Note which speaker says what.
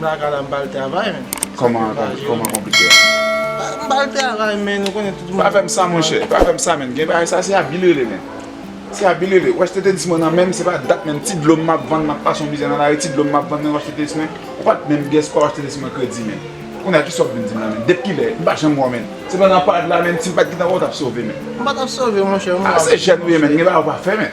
Speaker 1: Blaka la m bal travay men. Koman
Speaker 2: koman konplike a? M
Speaker 1: bal travay men ou konnen tout moun. Pa fèm sa monchè, pa
Speaker 2: fèm sa menn gen bagay sa se abi lele menn. Se abi lele, wè stetelis mwen nan menm se pa dat menm ti dlo m map vann map pase yon mizè nan lari ti dlo m map vann menm wè stetelis mwen ou pat menm gès pa wè stetelis mwen kredi menn. Kounye a kisa wap vin dim la menn, dep kilè, m pa janm wè w menn. Se pandan pad la menn si m pat gentan wè w tap sove menn. M pa tap sove monchè
Speaker 1: ou menm wap. A se jèn ou ye menn gen
Speaker 2: bagay ou pa fè menn.